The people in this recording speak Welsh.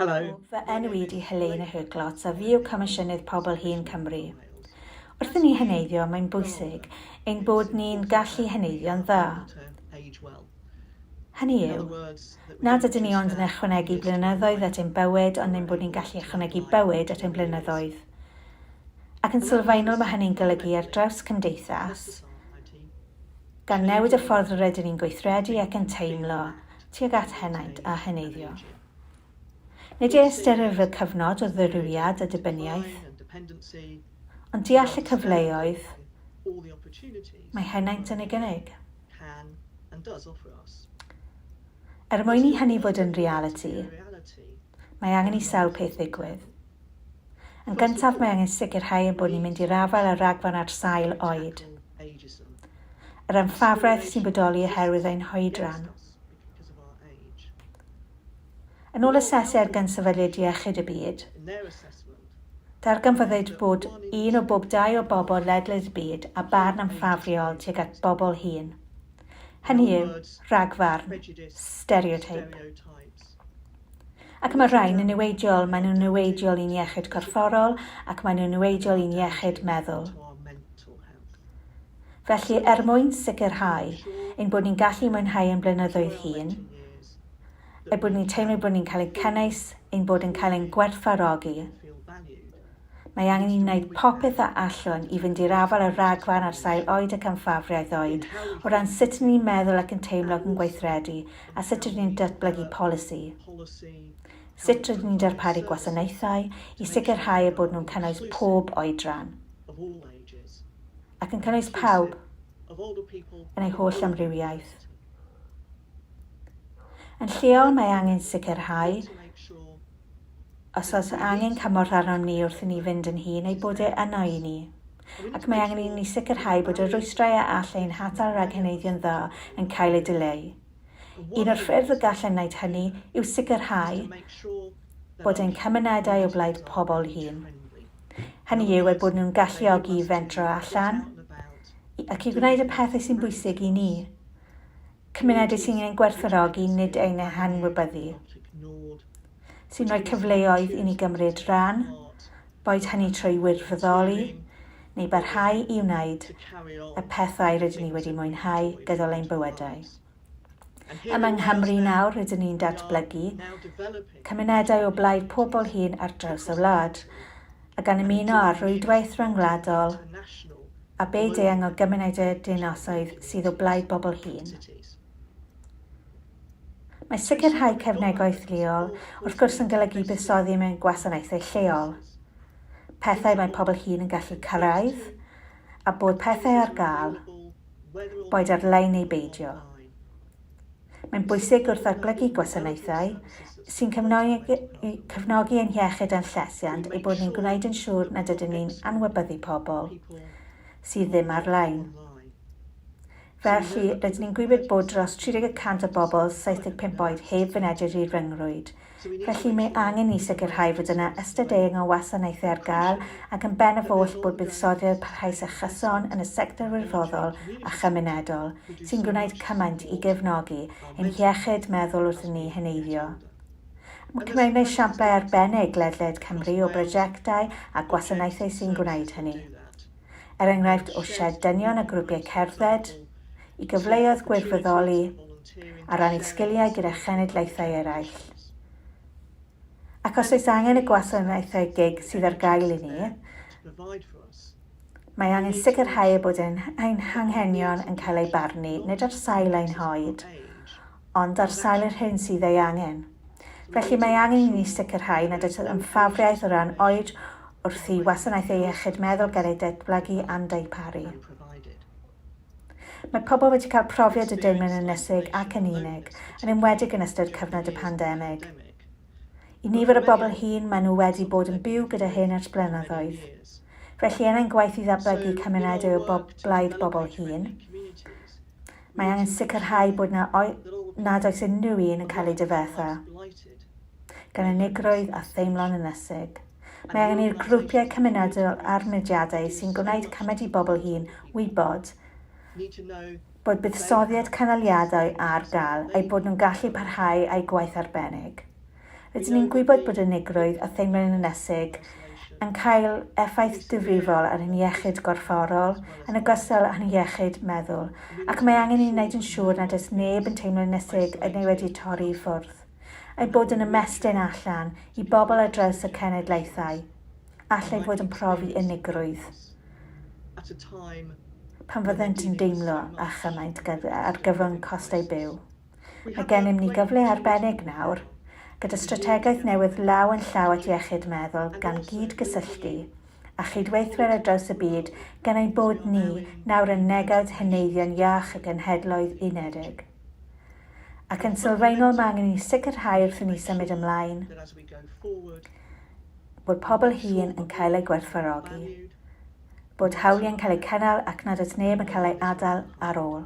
Helo, fy enw i 'di Helena Herklots a fi yw Comisiynydd Pobl Hŷn Cymru. Wrth i ni heneiddio mae'n bwysig ein bod ni'n gallu heneiddio'n dda. Hynny yw, nad ydyn ni ond yn ychwanegu blynyddoedd at ein bywyd ond ein bod ni'n gallu ychwanegu bywyd at ein blynyddoedd. Ac yn sylfaenol mae hynny'n golygu ar draws cymdeithas, gan newid y ffordd rydyn ni'n gweithredu ac yn teimlo tuag at henaint a heneiddio. Nid ei ystyrir fel cyfnod o ddirywiad a dibyniaeth, ond deall y cyfleoedd mae henaint yn ei gynnig. Er mwyn i hynny fod yn realiti, mae angen i sawl peth ddigwydd. Yn gyntaf mae angen sicrhau ein bod ni'n mynd i'r afael â'r rhagfarn ar sail oed. Yr anffafraeth sy'n bodoli oherwydd ein hoedran. Yn ôl asesiad gan Sefydliad Iechyd y Byd, darganfyddwyd bod un o bob dau o bobl ledled y byd â barn anffafriol tuag at bobl hŷn. Hynny yw, rhagfarn, stereoteip. Ac mae'r rhain yn niweidiol, maen nhw'n niweidiol i'n iechyd corfforol ac maen nhw'n niweidiol i'n iechyd meddwl. Felly, er mwyn sicrhau ein bod ni'n gallu mwynhau ein blynyddoedd hŷn, eu bod ni'n teimlo bod ni'n cael ein cynnwys, ein bod yn cael ein gwerthfawrogi, Mae angen i ni wneud popeth a allwn i fynd i'r afael â'r rhagfarn ar sail oed ac amffafriaeth oed, o ran sut rydyn ni'n meddwl ac yn teimlo ac yn gweithredu, a sut rydyn ni'n datblygu polisi. Sut rydyn ni'n darparu gwasanaethau i sicrhau eu bod nhw'n cynnwys pob oedran, ac yn cynnwys pawb, yn ei holl amrywiaeth. Yn lleol, mae angen sicrhau, Os oes angen cymorth arnom ni wrth i ni fynd yn hŷn, ei bod e yno i ni. Ac mae angen i ni sicrhau bod y rwystrau a all ein hatal rhag heneiddio'n dda yn cael eu dileu. Un o'r ffyrdd y gallem wneud hynny yw sicrhau bod ein cymunedau o blaid pobl hŷn, hynny yw, eu bod nhw'n galluogi i fentro allan ac i wneud y pethau sy'n bwysig i ni. Cymunedau sy'n ein gwerthfawrogi, nid ein hanwybyddu, sy'n rhoi cyfleoedd i ni gymryd rhan, boed hynny trwy wirfoddoli neu barhau i wneud y pethau rydyn ni wedi mwynhau gydol ein bywydau. Yma yng Nghymru nawr rydyn ni'n datblygu cymunedau o blaid pobl hŷn ar draws y wlad. a gan ymuno â'r rwydwaith ryngwladol a byd-eang o gymunedau a dinasoedd sydd o blaid bobl hŷn. Mae sicrhau cefnogaeth leol, wrth gwrs, yn golygu buddsoddi mewn gwasanaethau lleol, pethau mae pobl hŷn yn gallu cyrraedd, a bod pethau ar gael, boed ar-lein neu beidio. Mae'n bwysig wrth ddatblygu gwasanaethau sy'n cefnogi, cefnogi ein hiechyd a'n llesiant ei bod ni'n gwneud yn siŵr nad ydyn ni'n anwybyddu pobl sydd ddim ar-lein. Felly, rydyn ni'n gwybod bod dros 30 y cant o bobl 75 oed heb fynediad i'r rhyngrwyd, Felly, mae angen i ni sicrhau fod yna ystod eang o wasanaethau ar gael, ac yn ben yr holl bod buddsoddiad parhaus a chyson yn y sector wirfoddol a chymunedol, sy'n gwneud cymaint i gefnogi ein hiechyd meddwl wrth i ni heneiddio. Mae Cymru yn esiamplau arbennig ledled Cymru o brosiectau a gwasanaethau sy'n gwneud hynny. Er enghraifft, o sied dynion a grwpiau cerdded, i gyfleoedd gwirfoddoli, a rannu sgiliau gyda chenedlaethau eraill. Ac os oes angen y gwasanaethau gig sydd ar gael i ni, mae angen sicrhau eu bod ein hanghenion yn cael eu barnu, nid ar sail ein hoed, ond ar sail yr hyn sydd ei angen. Felly, mae angen i ni sicrhau nad oes ymfafriaeth o ran oed wrth i wasanaethau iechyd meddwl gael eu datblygu a'n darparu. Mae pobl wedi cael profiad y deimlad ynysig ac yn unig, yn enwedig yn ystod cyfnod y pandemig. I nifer o bobl hŷn, maen nhw wedi bod yn byw gyda hyn ers blynyddoedd. Felly, er ein gwaith i ddatblygu cymunedau o blaid bobl hŷn, mae angen sicrhau bod na, nad oes unrhyw un yn cael eu difetha. gan unigrwydd a theimlo'n ynysig. Mae angen i'r grwpiau cymunedol a'r mudiadau sy'n gwneud cymaint i bobl hŷn wybod bod buddsoddiad cynaliadwy ar gael, eu bod nhw'n gallu parhau â'u gwaith arbennig. Rydyn ni'n gwybod bod unigrwydd a theimlo'n ynysig yn cael effaith difrifol ar ein hiechyd gorfforol, yn ogystal â'n hiechyd meddwl, ac mae angen i ni wneud yn siŵr nad oes neb yn teimlo'n ynysig neu wedi torri i ffwrdd. ei bod yn ymestyn allan i bobl ar draws y cenedlaethau, ac eu bod yn profi unigrwydd pan fyddent yn deimlo â chymaint ar gyfwng costau byw. Mae gennym ni gyfle arbennig nawr, gyda strategaeth newydd law yn llaw at iechyd meddwl gan gyd-gysylltu â chydweithwyr ar draws y byd gan ein bod ni nawr yn negawd heneiddio'n iach y Genhedloedd Unedig. ac yn sylfaenol mae angen i ni sicrhau wrth i ni symud ymlaen bod pobl hŷn yn cael eu gwerthfawrogi, bod hawliau'n cael eu cynnal ac nad oes neb yn cael ei adael ar ôl.